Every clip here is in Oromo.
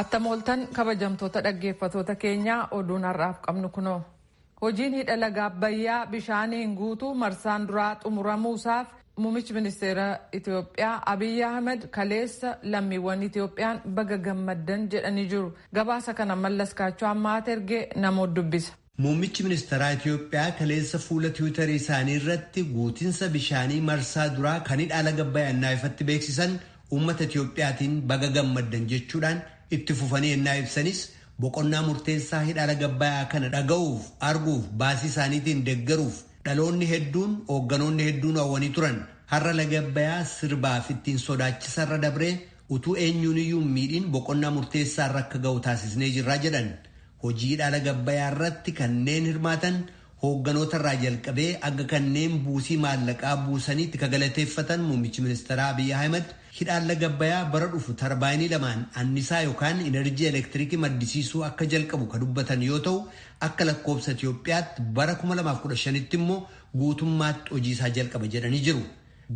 Attam ooltan kabajamtoota dhaggeeffatoota keenyaa oduun har'aaf qabnu kunoo. Hojiin hidha laga Abbayyaa bishaaniin guutuu marsaan duraa xumuramuusaaf muummichi ministeera Itoophiyaa Abiyyi Ahmed kaleessa lammiiwwan Itoophiyaan baga gammaddan jedhanii jiru. Gabaasa kana mallas kaachoo ammaa ergee namoota dubbisa. Muummichi ministaraa Itiyoophiyaa kaleessa fuula tiwitarii isaanii irratti guutinsa bishaanii marsaa duraa kan hidhaa laga Abbayaa ennaa ifatti beeksisan uummata Itiyoophiyaatiin baga gammaddan jechuudhaan itti fufanii ennaa ibsanis boqonnaa murteessaa hidhaa laga Abbayaa kana dhaga'uuf, arguuf, baasii isaaniitiin deggeruuf dhaloonni hedduun, hoogganoonni hedduun hawwanii turan. Har'a lagi Abbayaa sirbaaf ittiin sodaachisarra dabree utuu eenyuuniyyuu hin miidhiin boqonnaa murteessaarra akka ga'u taasisnee jirra jedhan. Hojii dhaala gabbayaa irratti kanneen hirmaatan hoogganoota irraa jalqabee hanga kanneen buusii maallaqaa buusaniitti ka galateeffatan muummichi ministeeraa Abiy Ahimad, hidhaalla gabbayaa bara dhufu tarbaayinii lamaan annisaa yokaan inarjii elektirikii maddisiisuu akka jalqabu ka dubbatan yoo ta'u, akka lakkoobsa Itiyoophiyaatti bara 2015tti immoo guutummaatti hojii isaa jalqaba jedhanii jiru.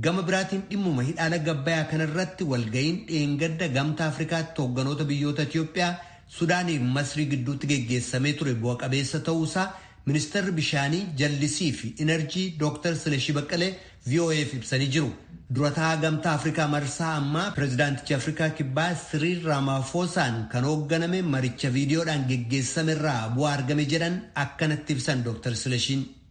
Gama biraatiin dhimmuma hidhaa laga Abbayaa kana irratti walga'iin dheengadda Gamtaa Afrikaatti hoogganoota biyyoota Itiyoophiyaa, Sudaanii fi Masrii gidduutti geggeessamee ture bu'a qabeessa ta'uu isaa Ministarri Bishaanii, Jallisii fi Inarjii Dooktar Silashii Baqqalee VOA'f ibsanii jiru. Dura ta'aa Gamtaa Afrikaa marsaa ammaa Pirezidaantichi Afrikaa Kibbaa Siriil Raamaafoosaan kan hoogganame maricha viidiyoodhaan geggeessame irraa bu'aa argame jedhan akkanatti ibsan Dooktar Silashiin.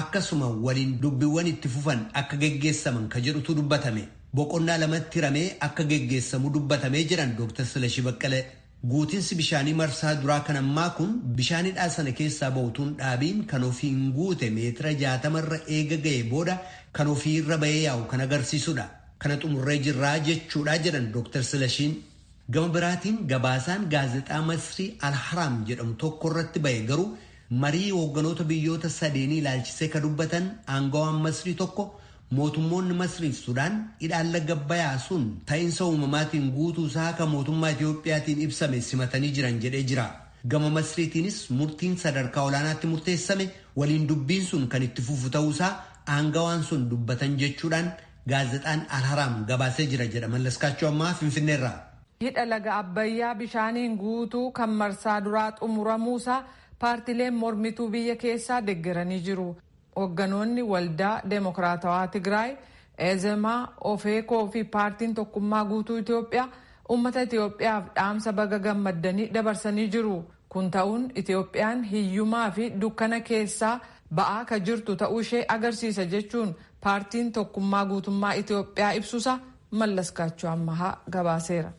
akkasuma waliin dubbiwwan itti fufan akka geggeessaman ka jedhutu dubbatame. Boqonnaa lamatti hiramee akka geggeessamu dubbatame jedhan Dooktar Silashii Baqqalee. Guutinsi bishaanii marsaa duraa kan ammaa kun bishaan hidhaa sana keessaa ba'u utuu hin dhaabiin kan ofiin guute meetira 60 irra eega ga'ee booda kan ofii irra ba'ee yaa'u kan agarsiisudha. Kana xumurree jirra jechuudha jedhan Dooktar Silashiin. Gama biraatiin gabaasaan gaazexaa Masrii Al-Haraam jedhamu tokko irratti ba'e garuu Marii hoogganoota biyyoota sadeenii ilaalchisee ka dubbatan aangawaan Masrii tokko mootummoonni Masrii fi Sudaan hidhaan laga Abbayaa sun ta'insa uumamaatiin guutuu isaa ka mootummaa Itoophiyaatiin ibsame simatanii jiran jedhee jira. Gama Masriitiinis murtiin sadarkaa olaanaatti murteessame waliin dubbiin sun kan itti fufu ta'uu isaa aangawaan sun dubbatan jechuudhaan gaazexaan Al-Haraam gabaasee jira jedha Mallaskaachoo Ammahaa Finfinneerraa. Hidha laga Abbayyaa bishaaniin guutuu kan marsaa duraa xumuramuusaa paartileen mormituu biyya keessaa deggeranii jiru. Hogganoonni Waldaa Demokraatawaa Tigraay, Ezema, Ofeco fi Paartiin Tokkummaa Guutuu Itoophiyaa uummata Itoophiyaaf dhaamsa baga gammaddanii dabarsanii jiru. Kun ta'uun Itoophiyaan hiyyumaa fi dukkana keessaa ba'aa ka jirtu ta'uu ishee agarsiisa jechuun Paartiin Tokkummaa Guutummaa Itoophiyaa ibsusaa Mallaskaachoo Ammahaa gabaaseera.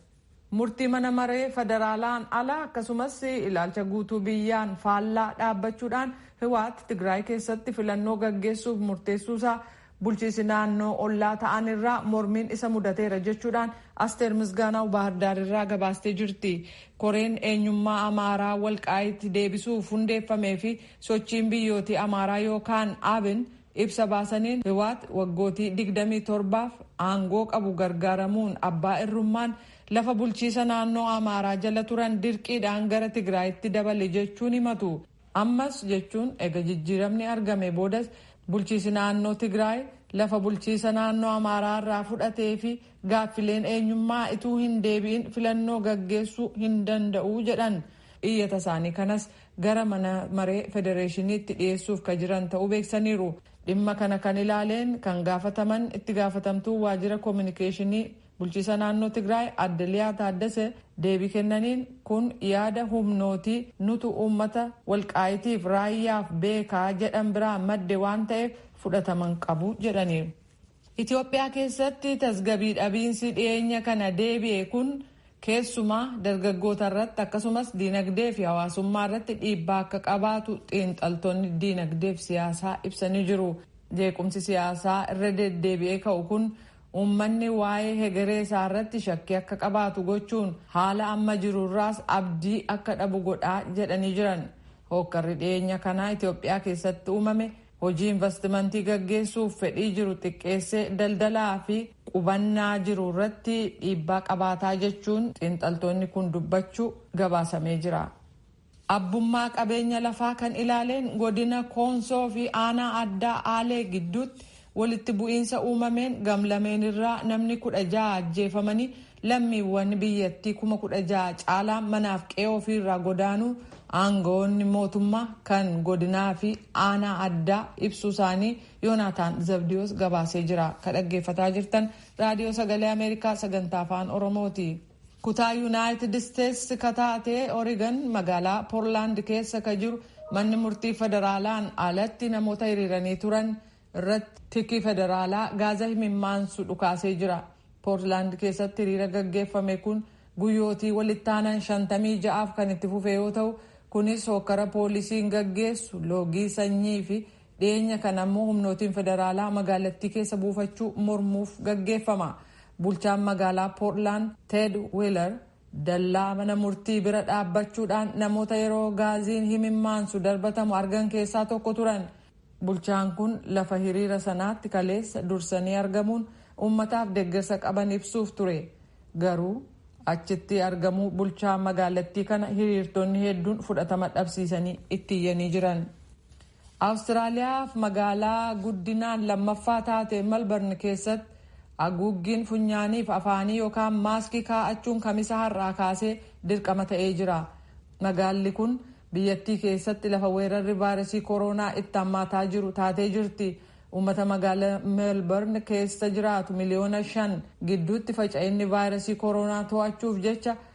Murtii mana maree federaalaan ala akkasumas ilaalcha guutuu biyyaan faallaa dhaabbachuudhaan Hiwaat Tigraay keessatti filannoo gaggeessuuf murteessuusaa Bulchiisi naannoo ollaa ta'an irraa mormiin isa mudateera jechuudhaan Asteer Misgaanaaw Baahirdaar irraa gabaastee jirti. Koreen eenyummaa Amaaraa Walqaayit deebisuuf hundeeffamee fi sochiin biyyootii Amaaraa yookaan Abin ibsa baasaniin Hiwaat waggootii digdamii torbaaf aangoo qabu gargaaramuun abbaa irrummaan lafa bulchiisa naannoo Amaaraa jala turan dirqiidhaan gara Tigraayitti dabale jechuun himatu. Ammas jechuun ega jijjiiramni argamee boodas bulchiisi naannoo Tigraay lafa bulchiisa naannoo Amaaraa irraa fudhatee fi gaaffileen eenyummaa ituu hin deebi'in filannoo gaggeessuu hin danda'u jedhan. Iyyata isaanii kanas gara mana maree federeeshiniitti dhiyeessuuf ka jiran ta'uu beeksaniiru. Dhimma kana kan ilaaleen kan gaafataman itti gaafatamtuu waajjira kominikeeshinii Bulchiisa naannoo Tigraay Adde Liyaa Taaddese deebii kennaniin kun yaada humnootii nutu uummata Walqaayitiif Raayyaaf beeka jedhan biraa madde waan ta'eef fudhatama hin qabu jedhaniiru. Itiyoophiyaa keessatti tasgabii dhabiinsi dhiyeenya kana deebi'e kun keessumaa dargaggoota irratti akkasumas diinagdee fi hawaasummaa irratti dhiibbaa akka qabaatu xiinxaltoonni diinagdee fi siyaasaa ibsanii jiru. Jeequmsi siyaasaa irra deddeebi'ee ka'u kun Uummanni waa'ee hegeree isaa irratti shakkii akka qabaatu gochuun haala amma jiru irraas abdii akka dhabu godha jedhanii jiran. Hookkarri dhiyeenya kana Itoophiyaa keessatti uumame hojii invastimantii gaggeessuuf fedhii jiru xiqqeessee daldalaa fi qubannaa jiru irratti dhiibbaa qabaataa jechuun xiinxaltoonni kun dubbachuu gabaasamee jira. Abbummaa qabeenya lafaa kan ilaaleen godina Koonsoo fi aanaa addaa Aalee gidduutti walitti bu'iinsa uumameen gamlameen irraa namni 16 ajjeefamanii lammiiwwan biyyattii 16,000 caalaan manaaf qe'ee ofii irraa godaanuu aanga'oonni mootummaa kan godinaa fi aanaa addaa ibsuu isaanii Yoonaataan Zabdiyoos gabaasee jira. Ka dhaggeeffataa jirtan Raadiyoo Sagalee Ameerikaa sagantaa afaan Oromooti. Kutaa Yunaayitid Isteets ka taate Origan magaalaa Porlaand keessa ka jiru manni murtii federaalaan alatti namoota hiriiranii turan irratti tiki federaalaa gaaza himimmaansu dhukaasee jira. Portlaand keessatti hiriira gaggeeffame kun guyyootii walittaanan 56f kan itti fufe yoo ta'u, kunis hookkara poolisiin gaggeessu, loogii sanyii fi Dhiyeenya kana ammoo humnootiin federaalaa magaalattii keessa buufachuu mormuuf gaggeeffama. Bulchaan magaalaa Portland Ted Wheeler dallaa mana murtii bira dhaabbachuudhaan namoota yeroo gaaziin himimmaansu darbatamu argan keessaa tokko turan. Bulchaan kun lafa hiriira sanaatti kaleessa dursanii argamuun uummataaf deggersa qaban ibsuuf ture. Garuu achitti argamuu bulchaa magaalattii kana hiriirtonni hedduun fudhatama dhabsiisanii itti iyyanii jiran. Awustiraaliyaaf magaalaa guddinaan lammaffaa taate Malbarn keessatti aguuggiin funyaaniif afaanii yokaan maaskii kaa'achuun Kamisa har'aa kaasee dirqama ta'ee jira. Magaalli kun biyyattii keessatti lafa weerarri vaayirasii koroonaa itti hammaataa jiru taatee jirti. Uummata magaala Melbarn keessa jiraatu miliyoona shan gidduutti faca'inni vaayirasii koroonaa to'achuuf jecha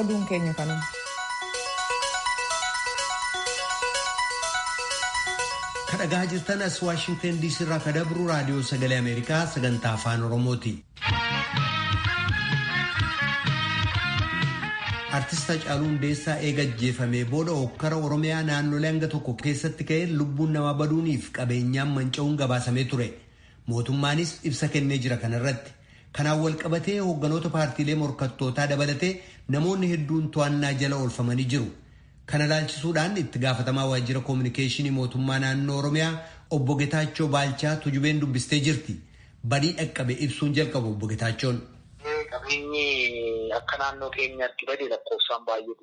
Oduun keenya kanuma. kadhagaa jirtan as waashingtan diisii irraa ka dabru raadiyoo sagalee ameerikaa sagantaa afaan oromooti. artist Hacaaluu Hundeessaa eega ajjeefamee booda hokkara oromiyaa naannolee hanga tokko keessatti ka'een lubbuun namaa baduuniif qabeenyaan manca'uun gabaasamee ture. Mootummaanis ibsa kennee jira kana irratti. Kanaan walqabatee hoogganoota paartiilee morkattootaa dabalatee namoonni hedduun to'annaa jala oolfamanii jiru. Kana ilaalchisuudhaan itti gaafatamaa waajjira koominikeeshinii mootummaa naannoo Oromiyaa obbo Getaachoo Baalchaa Tujubeen dubbistee jirti. Badii dhaqqabe ibsuun jalqabu obbo Getaachoon. Qabeenyi akka naannoo keenyaatti bade lakkoofsaan baay'ee.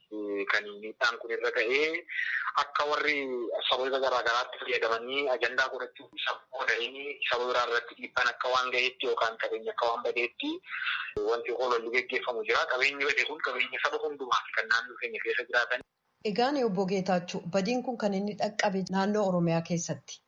kan miidhaan kun irra ga'e akka warri sababa garaa garaatti fayyadamanii ajandaa godhachuuf isa qoodanii saba biraa irratti dhiibbaan akka waan ga'eetti yookaan qabeenyi akka waan badeetti wanti hololli geggeeffamu jira. Qabeenyi bade kun qabeenya saba hundumaati kan naannoo keenya keessa jiraatan. Egaan Obbo Geetaachoo, badiin kun kan inni dhaqqabe naannoo Oromiyaa keessatti.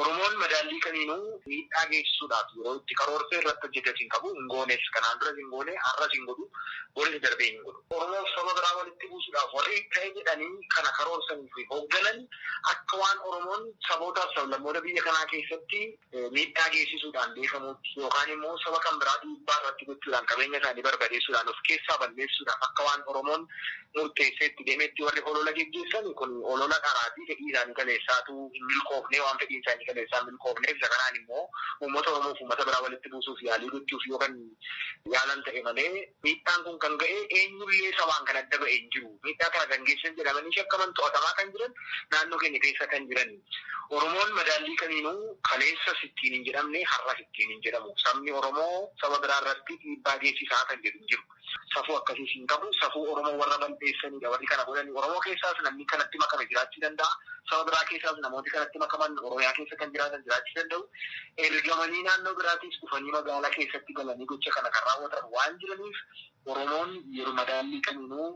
Oromoon madaallii kamiinuu miidhaa geessisuudhaaf yeroo itti karoorse irratti hojjetes hin qabu, hin goones. Kanaan duras hin goone, har'as hin godhu, boris darbee hin godhu. Oromoof saba biraa walitti buusuudhaaf warri ta'e jedhanii kana karoorsanii fi hoogganan akka waan Oromoon sabootaaf sablammoota biyya kanaa keessatti miidhaa geessisuudhaan beekamuutti yookaan immoo saba kan biraa dhiibbaa irratti gochuudhaan qabeenya isaanii barbadeessuudhaan of keessaa balleessuudhaaf akka waan Oromoon murteessee itti deemetti warri holola geggeessani kun holola dharaati fedhii isaanii kaleessaatu hin milkoofnee waan fedhiin isaanii kaleessaa hin milkoofneef isa kanaan immoo uummata oromoof uummata biraa walitti buusuuf yaalii gochuuf yoo kan yaalan ta'e malee miidhaan kun kan ga'e eenyullee sabaan kan adda ba'e hin jiru miidhaa kana kan geessan jedhamanii shakkaman to'atamaa kan jiran naannoo keenya keessa kan jirani oromoon madaallii kamiinuu kaleessas ittiin hin jedhamne har'as ittiin hin jedhamu sabni oromoo saba biraa irratti dhiibbaa geessisaa kan jedhu hin jiru. Safuu akkasiis hin qabu. Safuu Oromoo warra bal'eessaniidha warri kana godhani. Oromoo keessaas namni kanatti makame jiraachuu danda'a. Saba biraa keessaas namooti kanatti makaman Oromiyaa keessa kan jiraatan jiraachuu danda'u. Ergamanii naannoo biraatiis dhufanii magaalaa keessatti galanii gocha kana kan raawwatan waan jiraniif Oromoon yeroo madaallii kamiinuu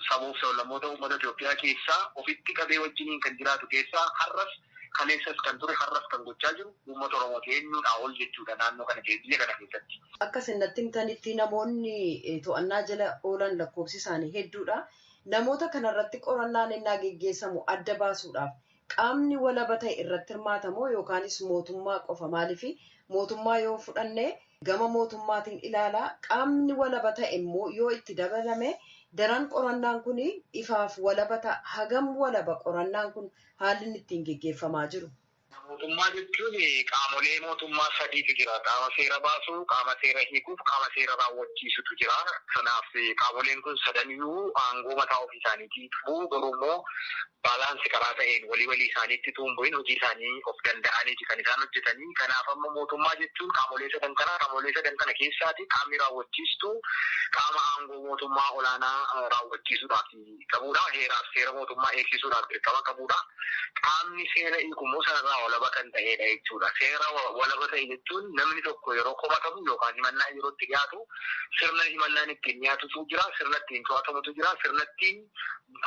saboof sablammoota uummata Itoophiyaa keessaa ofitti qabee wajjiniin kan jiraatu keessaa har'as Kaleessas kan ture har'as kan gochaa jiru uummata Oromooti. Eenyuudhaa ol jechuudha naannoo kana keessa, biyya kana keessatti. Akka isin natti himtanitti namoonni to'annaa jala oolan lakkoofsi isaanii hedduudha. Namoota kana irratti qorannaan ennaa geggeessamu adda baasuudhaaf qaamni walaba ta'e irratti hirmaata moo yookaanis mootummaa qofa? Maaliif mootummaa yoo fudhanne gama mootummaatiin ilaalaa qaamni walaba ta'e immoo yoo itti dabalame daran qorannaan kun ifaaf walaba ta'a. Hagam walaba qorannaan kun haalli inni ittiin geggeeffamaa jiru. Mootummaa jechuun qaamolee mootummaa sadiitu jira. Qaama seera baasu, qaama seera hiikuuf qaama seera raawwachiisutu jira. Kanaaf qaamoleen kun sadaniyyuu aangoo mataa ofii isaaniitii qabu. Garuu immoo balance karaa ta'een walii walii isaaniitti utuu hin bu'in hojii isaanii of danda'aniiti kan isaan hojjetanii. Kanaaf amma mootummaa jechuun qaamolee sadan kana. Qaamolee sadan kana keessaati qaamni raawwachiistuu qaama aangoo mootummaa olaanaa raawwachiisudhaaf. qabuudha. Heeraaf seera mootummaa eegsisuudhaaf dirqama qabuudha. Qaamni seera hiiku immoo sanarraa walaba kan ta'eedha jechuudha. Seera walaba ta'e jechuun namni tokko yeroo komatamu yookaan himannaan yeroo itti dhiyaatu sirna himannaan ittiin dhiyaatutu jira, sirna ittiin to'atamutu jira, sirna ittiin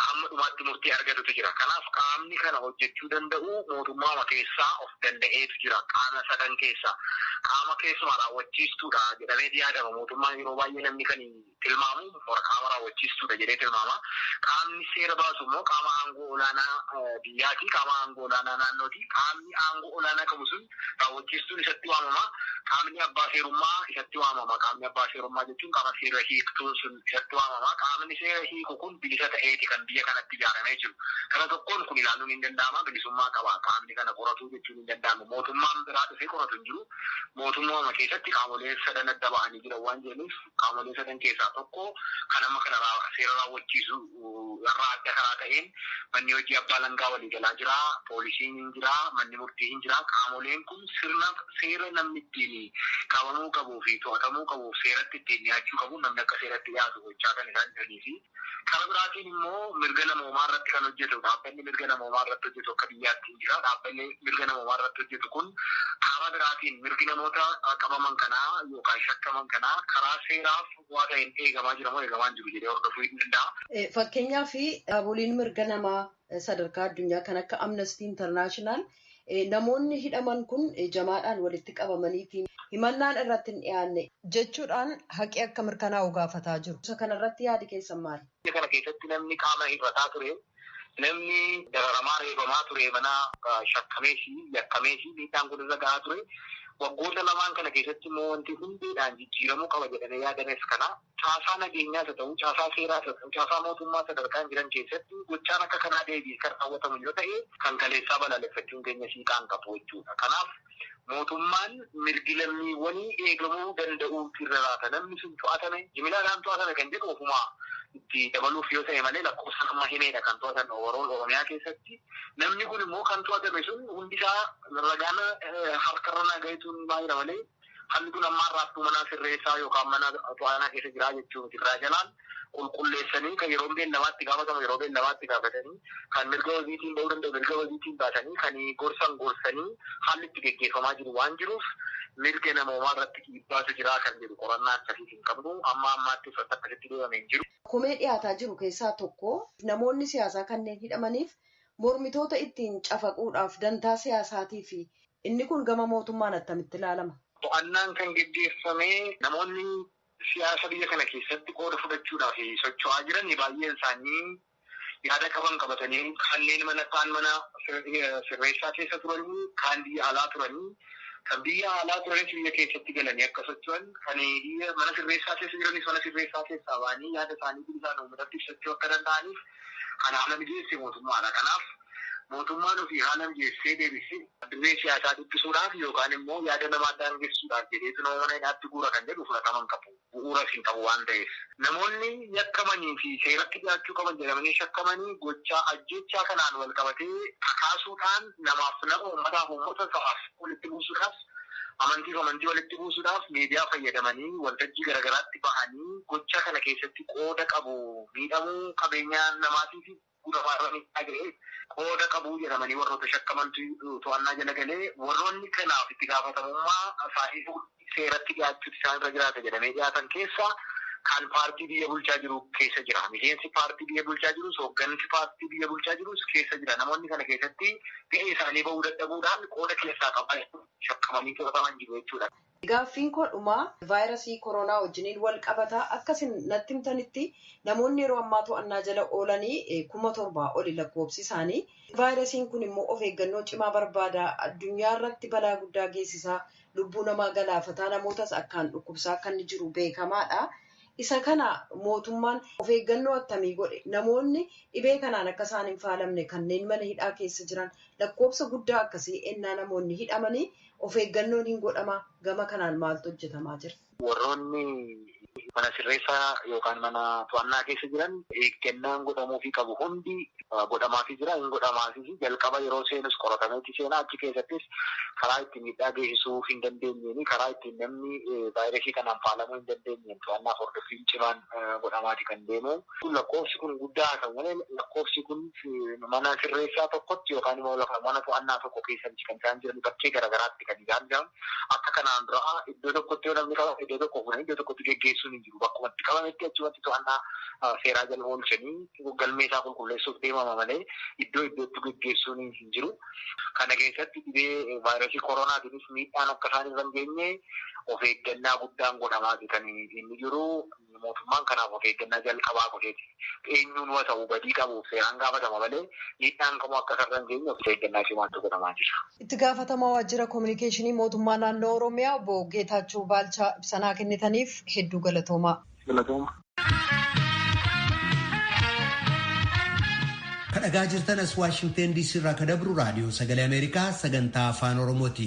hamma dhumaatti murtii argatutu jira. Kanaaf qaamni kana hojjechuu danda'u mootummaama keessaa of danda'eetu jira. Qaama sadan keessaa qaama keessumaa raawwachiistuudha jedhameeti yaadama. Mootummaan yeroo baay'ee namni kan tilmaamu immoo qaama raawwachiistuudha jedhee tilmaama. Qaamni seera baasu immoo qaama aangoo olaanaa biyyaati, qaama aangoo olaanaa naannooti. Qaamni aangoo olaanaa qabu sun raawwachiistuun isatti waamama. Qaamni abbaa seerummaa isatti waamama. Qaamni abbaa seerummaa jechuun qaama seera hiiktuun sun isatti waamama. Qaamni seera hiiku kun bilisa ta'eeti kan biyya kanatti ijaaramee jiru. Kana tokkoon kun ilaaluun hin danda'ama. Bilisummaa qaba qaamni kana qoratu jechuudha. hin danda'amu. Mootummaan biraa dhufee qoratu hin jiru. Mootummauma keessatti qaamoleen sadan adda bahanii jiran waan jiraniif qaamolee sadan keessaa tokko kan amma kana seera raawwachiisu irraa adda karaa ta'een manni hojii abbaa alangaa waliigalaa jira, poolisiin hin jira, manni murtii hin jira. Qaamoleen kun sirna seera namni ittiin qabamuu qabuu fi to'atamuu qabuuf seeratti ittiin dhiyaachuu qabuun namni akka seeratti dhiyaatu gochaa kan isaan jiranii fi Kara biraatiin immoo mirga namoomaa irratti kan hojjetu dhaabbanni mirga namoomaa irratti hojjetu akka biyyaatti hin jira. Dhaabbanni mirga namoomaa irratti hojjetu kun karaa biraatiin mirgi namoota qabaman kanaa yookaan shakkaman kanaa karaa seeraa furdaa ta'een eegamaa jira moo eegamaa hin jiru jedhee hordofuu hin danda'a. Fakkeenyaaf dhaaboliin mirga namaa sadarkaa addunyaa kan akka Amnesty International Namoonni hidhaman kun jamaadhaan walitti qabamaniiti. Himannaan irratti hin dhiyaanne. jechuudhaan haqi akka mirkanaa'u gaafataa jiru. Isa kanarratti yaadi keessan maali? Hidha kana keessatti namni qaama hir'ataa ture, namni dararamaa, reebamaa ture mana shakkamees, yakkamees miidhaan kun irra gahaa ture. Waggoota lamaan kana keessatti immoo wanti hundeedhaan jijjiiramuu qaba jedhamee yaadames kana. Caasaa nageenyaas haa ta'u, caasaa seeraas haa ta'u, caasaa mootummaa sadarkaan jiran keessatti gochaan akka kanaa deebi'ee kan raawwatamu yoo ta'e kan kaleessaa balaaleffachuun keenya hiikaa hin qabu jechuudha. Kanaaf mootummaan mirgi lammiiwwanii eegamuu danda'uutu irra raata. Namni sun to'atame, jimilaadhaan to'atame kan jedhu ofuma itti dabaluuf yoo ta'e malee lakkoofsaan amma himeedha kan to'atan overall Oromiyaa keessatti. Namni kun immoo kan to'atame sun hundisaa ragaan harkarra naa gahetu himaa jira malee Falli kun ammaa raabtuu manaa sirreessaa yookaan mana to'aanaa keessa jiraa jechuu miti. Irraa jalaan qulqulleessanii kan yeroon beellamaa itti gaafatamu yeroo beellamaa itti gaafatanii, kan mirga wabiitiin ba'uu danda'u mirga wabiitiin baasanii, kan gorsan gorsanii haalli itti geggeeffamaa jiru waan jiruuf mirga namoomaa irratti dhiibbaatu jiraa kan jedhu qorannaa akkasiis hin qabnu. Amma ammaattis wanti akkasitti deemame hin jiru. Komee dhiyaataa jiru keessaa tokko namoonni siyaasaa kanneen hidhamaniif Mormitoota ittiin cafaquudhaaf dantaa siyaasaatii fi inni kun gama mootummaan attamitti ilaalama? To'annaan kan geggeeffame namoonni siyaasa biyya kana keessatti qooda fudhachuudhaaf socho'aa jiran baay'een isaanii yaada qaban qabatanii kanneen mana kaan mana sirreessaa keessa turanii kaan biyya alaa turanii kan biyya alaa turanis biyya keessatti galanii akka socho'an kan biyya mana sirreessaa keessa jiranis mana sirreessaa keessaa ba'anii yaada isaanii bilisaan uummatatti ibsachuu akka danda'aniif Kan haala mijeesse mootummaadha. Kanaaf mootummaan ofii haala mijeessee deebisee dirree siyaasaa dhiphisuudhaaf yookaan immoo yaada namaa daangessuudhaaf jedheetu nama mana hidhaatti guura kan jedhu fudhatama hin qabu. Bu'uuras hin qabu waan ta'eef. Namoonni yakkamanii fi seeratti dhiyaachuu qaban jedhamanii shakkamanii gochaa ajjeechaa kanaan walqabatee kakaasuudhaan namaaf nama, uummataaf uummata, sabaaf saba walitti buusuudhaaf, amantiif amantii walitti buusuudhaaf miidiyaa fayyadamanii waltajjii garagaraatti bahanii gochaa kana keessatti qooda qabu miidhamuu qabeenyaa namaatiifi guramaarra miidhaa gaheef qooda qabu jedhamanii warroota shakkamantu to'annaa jala galee warroonni kanaaf itti gaafatamummaa isaanii fuudhanii seeratti dhiyaachuutu isaan irra jiraata jedhamee dhiyaatan keessa kan paartii biyya bulchaa jiru keessa jira miseensi paartii biyya bulchaa jirus hooggansi paartii biyya bulchaa jirus keessa jira namoonni kana keessatti gahee isaanii bahuu dadhabuudhaan qooda keessaa qaban shakkamanii to'ataman jiru jechuudha. Gaaffiin koo dhumaa vaayirasii koroonaa wajjiniin wal qabata. Akka isin natti himtanitti namoonni yeroo ammaa to'annaa jala oolanii kuma torbaa oli lakkoobsi isaanii. Vaayirasiin kun immoo of eeggannoo cimaa barbaada. Addunyaa irratti balaa guddaa geessisaa, lubbuu namaa galaafataa, namootas akkaan dhukkubsaa akka inni jiru beekamaadha. Isa kana mootummaan of eeggannoo attamii godhe? Namoonni dhibee kanaan akka isaan hin faalamne kanneen mana hidhaa keessa jiran lakkoofsa guddaa akkasii ennaa namoonni hidhamanii of eeggannoon hin godhamaa? Gama kanaan maaltu hojjetamaa jira? Warroonni mana sirreessaa yookaan mana to'annaa keessa jiran eeggannaan godhamuufii qabu hundi godhamaafii jira, hin godhamaafis. Jalqaba yeroo seenus qoratameeti seena. Achi keessattis karaa itti. miidhaa geessisuu hin dandeenyeen karaa ittiin namni vaayirasii kanaan faalamuu hin dandeenyeen to'annaaf hordoffiin cimaan godhamaati kan deemu. Lakkoofsi kun guddaa haa ta'u malee lakkoofsi kun mana sirreessaa tokkotti yookaan immoo lafa mana to'annaa tokko keessa miti kan isaan jiranii bakkee garagaraatti kan isaan jiran. Akka kanaan duraa iddoo tokkotti yoo namni qabame iddoo tokkoo fuudhanii iddoo tokkotti geggeessuun hin jiru. bakkuma itti qabametti achumatti to'annaa seeraa jala oolchanii galmee isaa qulqulleessuuf deemama malee iddoo iddootti geggeessuun hin jiru. Kana keessatti dhibee vaayrasii koroonaatiinis miidhaan akka isaan irra hin geenye of eeggannaa guddaan godhamaati kan inni jiru. Mootummaan kanaaf of eeggannaa jalqabaa godheeti. eenyuunuu haa ta'u badii qabuuf seeraan gaafatama malee miidhaan kamuu akka isarra hin geenye of eeggannaa cimaatu godhamaa jira. Itti gaafatamaa waajjira kominikeeshinii mootummaa naannoo Oromiyaa obbo Geetaachoo Baalchaa ibsanaa kennitaniif hedduu galatoomaa. Galatooma. Kadhagaa jirtan as Waashingteen DC irraa kadabru raadiyoo sagalee Ameerikaa sagantaa afaan Oromooti.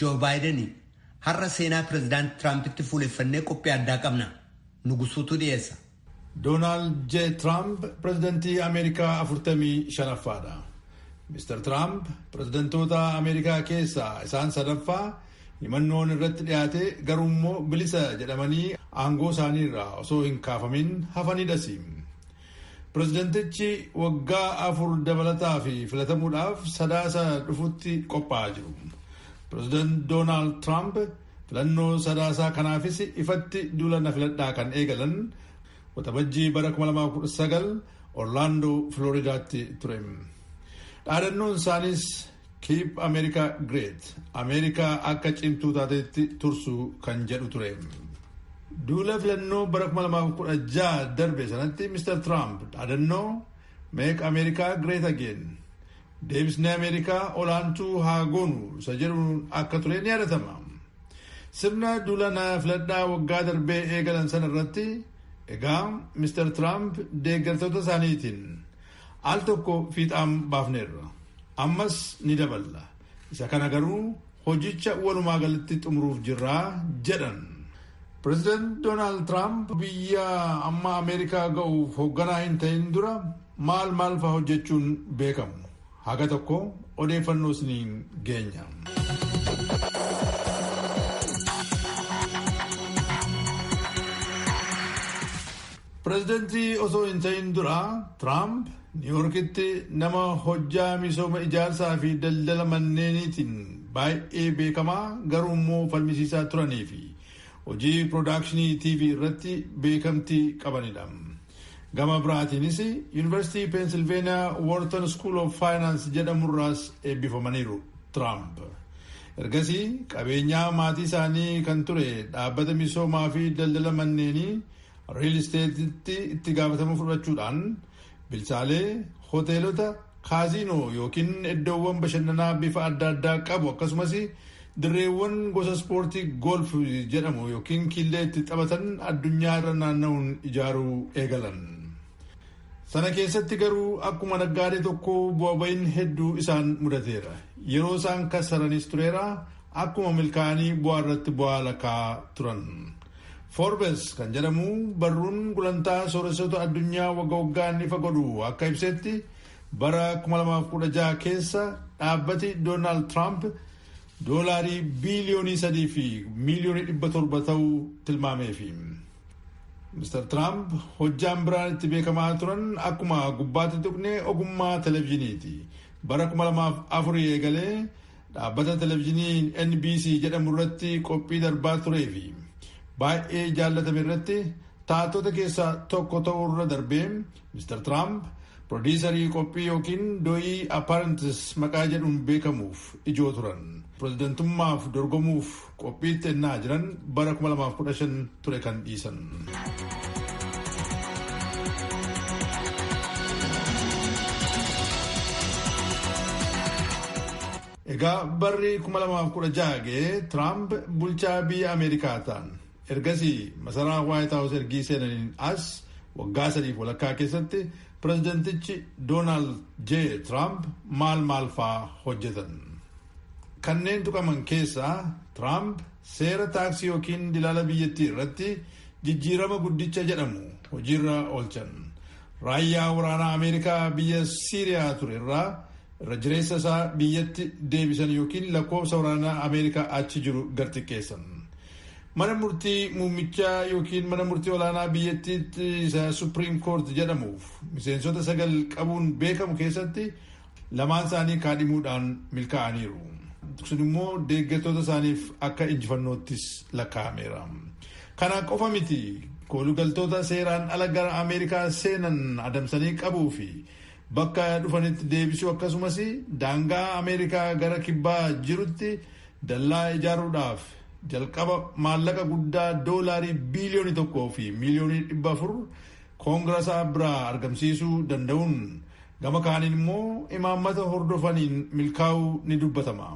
Joo Baayiden, Har'a seenaa Pireezidaanti Tiraampitti fuuleffannee qophii addaa qabna. Nugusuutu dhiyeessa. Doonaald J. Tiraamp pireezidantii Ameerikaa 45ffaadha. Mr. Tiraamp pireezidantoota Ameerikaa keessaa isaan sadaffaa himannoon irratti dhiyaate garuu immoo bilisa jedhamanii aangoo isaaniirraa osoo hin kaafamin hafanidhasi. Pirezidantichi waggaa afur dabalataa fi filatamuudhaaf sadaasa dhufutti qophaa'aa jiru. Pirezidaant Doonaald Tiraamp filannoo sadaasaa kanaafis ifatti duula na filadhaa kan eegalan waxabajjii bara 2019 Orlaandoo Filooridaatti ture. Dhaadannoon isaaniis Keep America Great, Ameerikaa akka cimtuu taatetti tursuu kan jedhu ture. Duula filannoo bara 2016 darbe sanatti Mr. Tiraamp dhaadannoo Make America Great Again, deebisnee Ameerikaa olaantuu haa goonu isa jedhuun akka ture ni yaadatama. Sirna duula na filadhaa waggaa darbee eegalan sana irratti egaa Mr. Tiraamp deeggartoota isaaniitiin Al tokko fiixaan baafneerra. Ammas ni daballa. Isa kana garuu hojicha walumaa galatti xumuruuf jirra jedhan. Pireezidaant Doonaald Tiraamp biyya amma Ameerikaa ga'uuf hoogganaa hin ta'in dura maal maal fa'aa hojjechuun beekamu? Haga tokko odeeffannoo isiniin geenya. Pireezidantii osoo hin ta'in dura Tiraamp Niiwuorkitti nama hojjaa misooma ijaarsaa fi daldala manneeniitiin baay'ee beekamaa garuu immoo falmisiisaa turanii fi hojii piroodakshinii TV irratti beekamtii qabanidha. Gama biraatiinis Yuunivarsiitii Peensilveeniyaa Woorton School of Finance jedhamurraas eebbifamaniiru Tiraamp. Ergasii qabeenyaa maatii isaanii kan ture dhaabbata misoomaa fi daldala manneenii Riil isteetitti itti gaafatamuu fudhachuudhaan bilchaalee hoteelota kaaziinoo yookiin iddoowwan bashannanaa bifa adda addaa qabu akkasumas dirreewwan gosa ispoortii golf jedhamu yookiin kiillee itti taphatan addunyaa irra naanna'uun ijaaruu eegalan. Sana keessatti garuu akkuma naggaadee tokko bu'a ba'iin hedduu isaan mudateera. Yeroo isaan kassaranis tureera akkuma milkaa'anii bu'aa irratti bu'aa lakaa turan. Forbes kan jedhamu barruun gulantaa sooressoota addunyaa wagga waggaan ifa godhu akka ibsetti bara 2016 keessa dhaabbati Doonaald Tiraamp doolaarii biiliyoonii sadii fi miiliyoonii dhibba torba ta'uu tilmaameefi. Mr. Tiraamp hojjaan biraan itti beekamaa turan akkuma gubbaatti tuqne ogummaa televizhiniiti. Bara 2004 eegalee dhaabbata televizhinii NBC jedhamu irratti qophii darbaa turee fi baay'ee jaallatame irratti taatota keessaa tokko ta'uu irra darbee Mr. Tiraamp pirodiisarii qophii yookiin do'ii Apparantis maqaa jedhuun beekamuuf ijoo turan. Pirezidantummaaf dorgomuuf qophiitti ennaa jiran bara 2015 ture kan dhiisan. Egaa barri 2016 ga'ee Tiraamp bulchaa biyya Ameerikaa ta'an. Ergasii masaraa Waayit Haawus ergii seenaniin as waggaa sadiif walakkaa keessatti pirezidantichi Doonaald J. Tiraamp maal maal faa hojjetan? Kanneen tuqaman keessaa Tiraamp seera taaksii yookiin dilaala biyyattii irratti jijjiirama guddicha jedhamu hojiirra oolchan. Raayyaa waraanaa Ameerikaa biyya Siiriyaa ture irraa irra jireessa isaa biyyatti deebisan yookiin lakkoofsa waraanaa Ameerikaa achi jiru gad xiqqeessan. Mana murtii muummichaa yookiin mana murtii olaanaa biyyattiitti isa Supreme Court jedhamuuf miseensota sagal qabuun beekamu keessatti lamaan isaanii kaadhimuudhaan milkaa'aniiru. Sun immoo deeggartoota isaaniif akka injifannoottis lakkaa'ameera. Kana qofa miti koolugaltoota seeraan ala gara Ameerikaa seenan adamsanii qabuu fi bakka dhufanitti deebisuu akkasumas daangaa Ameerikaa gara kibbaa jirutti Dallaa ijaaruudhaaf jalqaba maallaqa guddaa doolaarii biiliyoonii tokkoo fi miiliyoonii dhibba afur koongirasaa biraa argamsiisuu danda'uun gama kaaniin immoo imaammata hordofaniin milkaa'uu ni dubbatama.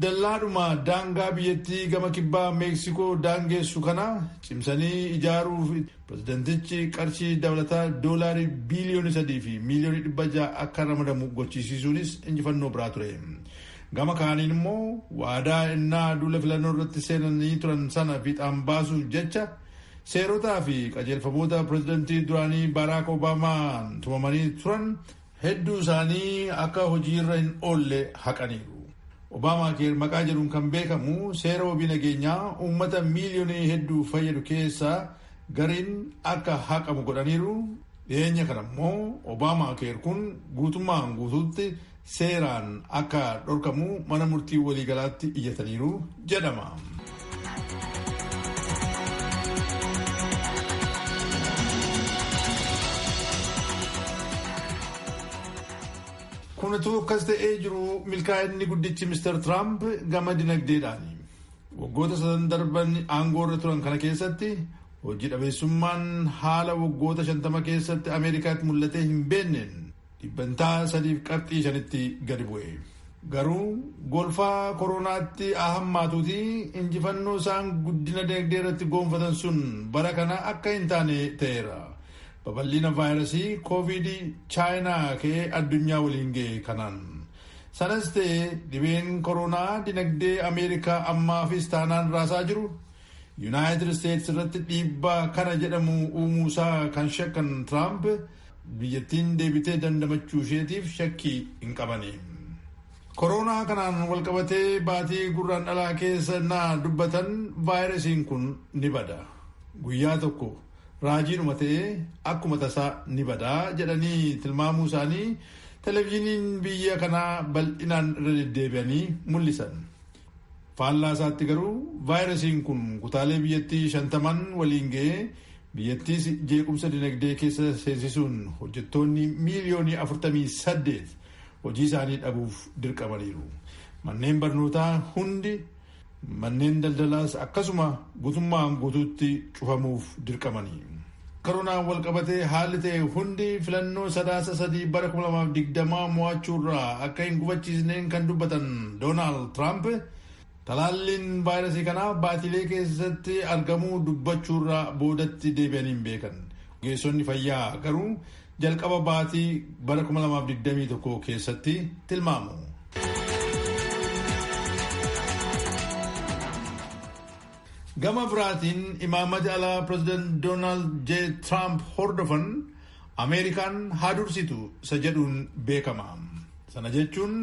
Dallaadhuma daangaa biyyattii gama kibbaa Meeksikoo daangeessu kana cimsanii ijaaruuf pirezidantichi qarshii dabalataa doolaarii biiliyoonii sadii fi miiliyoonii dhibba ja'a akka ramadamu gochisiisuunis injifannoo biraa ture. Gama kaaniin immoo waadaa ennaa duula filannoo irratti seenanii turan sana fiixaan baasuuf jecha seerotaa fi qajeelfamoota pirezidantii duraanii Baaraak Obaamaan tumamanii turan hedduu isaanii akka hojiirra hin oolle haqaniiru. Obaamaa keer maqaa jedhuun kan beekamu seera wabii nageenyaa uummata miiliyoonii hedduu fayyadu keessaa gariin akka haqamu godhaniiru. Dhiyeenya kana immoo Obaamaa keer kun guutummaan guutuutti seeraan akka dhorkamu mana murtii waliigalaatti iyyataniiru jedhama. Kun utuu akkas ta'ee jiru milkaa'inni guddichi Mr. Tiraamp gama dinagdeedhaani. Waggoota sadan darban aangoo irra turan kana keessatti hojii dhabeessummaan haala waggoota shantama keessatti Ameerikaatti mul'atee hin beenneen dhibbantaa 3.5tti gadi bu'e. Garuu golfaa koroonaatti haa hammaatuuti injifannoo isaan guddina dinagdee irratti goonfatan sun bara kana akka hin taane ta'eera. Babal'ina vaayirasii kooviid chaayinaa ka'ee addunyaa waliin ga'e kanaan. Sanas ta'e dhibeen koroonaa dinagdee Ameerikaa ammaafis taanaan raasaa jiru Yuunaayitid Isteetsi irratti dhiibbaa kana jedhamu uumuusaa kan shakkan Tiraamp Biyyattiin deebitee dandamachuu isheetiif shakkii hin qabani. Koroonaa kanaan walqabatee baatii gurraan dhalaa keessa naa dubbatan vaayirasiin kun ni bada. Guyyaa tokko raajiidhuma ta'ee akkuma tasaa ni bada jedhanii tilmaamuu isaanii televizyiiniin biyya kanaa bal'inaan irra deddeebi'anii mul'isan. Faallaa isaatti garuu vaayirasiin kun kutaalee biyyattii shantaman waliin ga'ee biyyattiis jeequmsa dinagdee keessa seensisuun hojjettoonni miiliyoonii 48 hojii isaanii dhabuuf dirqamaniiru. Manneen barnootaa hundi manneen daldalaas akkasuma gutummaan guutuutti cufamuuf dirqamanii. Koronaan walqabatee haalli ta'e hundi filannoo sadaasa sadii bara 2020 mo'achuurraa akka hin gufachiisneen kan dubbatan Doonaald Tiraamp talaalliin vaayirasii kanaa baatilee keessatti argamuu dubbachuurraa boodatti deebi'anii hin beekan. Ogeessonni fayyaa garuu jalqaba baatii bara 2021 keessatti tilmaamu. Gama biraatiin imaammata alaa pireezidaant Doonaald J. Tiraamp hordofan Ameerikaan haa dursitu isa jedhuun beekama. Sana jechuun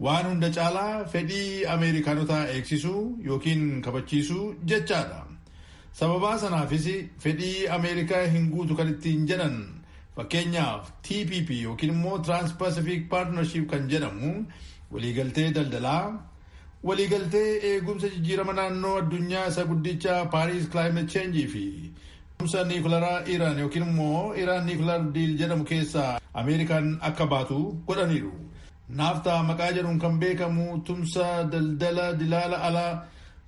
waan hunda caalaa fedhii Ameerikaanotaa eegsisuu yookiin kabachiisuu jechaadha. Sababaa sanaafis fedhii Ameerikaa hin guutu kan ittiin jedhan fakkeenyaaf TPP yookiin immoo Trans-Pacific Partnership kan jedhamu waliigaltee daldalaa Waliigaltee eegumsa jijjiirama naannoo addunyaa isa guddicha Paariis Climate Change fi Kumsa niikularaa Iraan yookiin immoo Iraan niikular diil jedhamu keessaa Ameerikaan akka baatu godhaniiru. Naaftaa maqaa jedhuun kan beekamu tumsa daldala dilaala alaa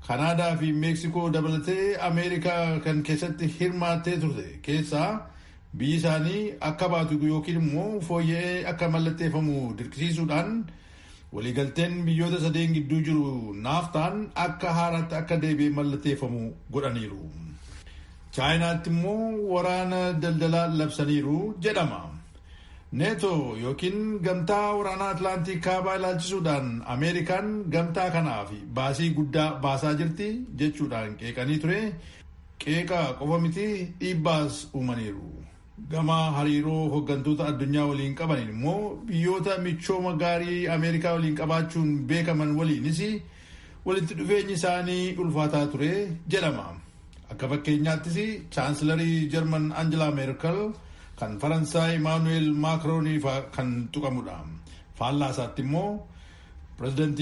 Kanaadaa fi Meeksikoo dabalatee Ameerikaa kan keessatti hirmaattee turte keessaa biyyi isaanii akka baatu yookiin immoo fooyya'ee akka mallatteeffamu dirqisiisuudhaan Waliigalteen biyyoota sadeen gidduu jiru naaftaan akka haaraatti akka deebi'ee mallateeffamu godhaniiru. Chaayinaatti immoo waraana daldalaa labsaniiru jedhama. Neeto yookiin gamtaa waraanaa Atlaantii kaabaa ilaalchisuudhaan Ameerikaan gamtaa kanaaf baasii guddaa baasaa jirti jechuudhaan qeeqanii ture. Qeeqa qofa miti dhiibbaas uumaniiru. Gama hariiroo hoggantoota addunyaa waliin qabaniin immoo biyyoota michooma gaarii Ameerikaa waliin qabaachuun beekaman waliinis walitti dhufeenyi isaanii ulfaataa ture jedhama. Akka fakkeenyaattis chaansilarii Jarman Angelaa Meerkel kan Faransaay Imaanu'eel Maakroonii fa'aa kan tuqamudha. Faallaa isaatti immoo pirezidantii